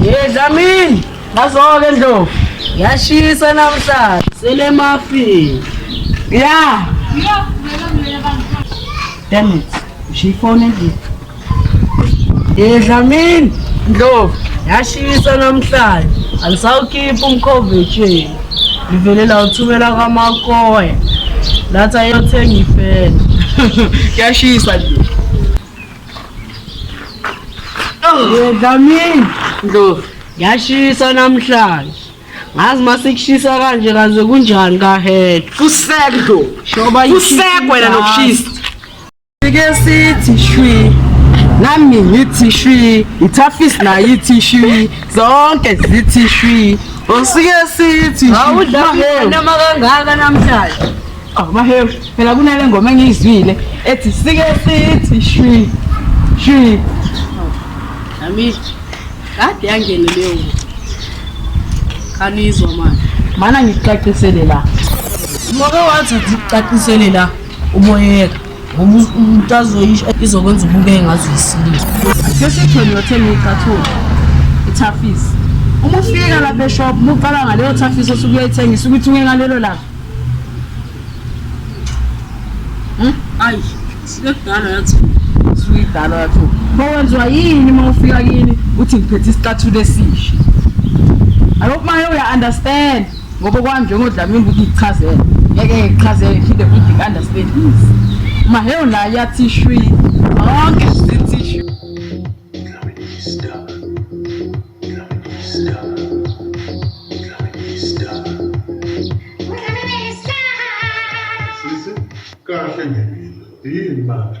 Yedlamini, bazoke ndlovu. Yashisa namhlanje. Sele mafi. Yeah. Damn it. She phone endlini. Yedlamini, ndlovu. Yashisa namhlanje. Angisawukhipha umkhovu etsheni. ngivele lawuthumela kwamakoya lathi ayothenga ifela kuyashisa nje Dlamini Ndlovu ngiyashisa namhlanje ngazi masikushisa kanje kaze kunjani kahedwa kusekho Shoba kusekho wena nokushisa Sike sithi shwi nami ngithi shwi ithafisi nayo ithi shwi zonke zithi shwi osike sithi awudlaunama kangaka namhlanje awumahewu oh, phela kunale ngoma engiyizwile ethi sike sithi shwi shwi nami kade yangene leyo kanizwa manje mana ngikucacisele la moke wathi ngikucacisele la uboyeka ngoba umuntu azoyisho izokwenza ubukeke ngazo yisilisa sesithole yothela ucathula ithafisi uma ufika lapha eshop uma uqala ngaleyo thafisi osuke uyayithengisa ukuthi uye ngalelo langa hmm? ayi sekudala yathi suyidala yathi bowenziwa yini uma ufika kini uthi ngiphethe isicathulo esisha I hope my lawyer understand. ngoba kwami njengodlamini ukuthi ngichazele ngeke ngichazele ngiphinde futhi ngi-understand easy mahewu naye yathi shwi zonke zithi shwi kahle ngempilo yini manje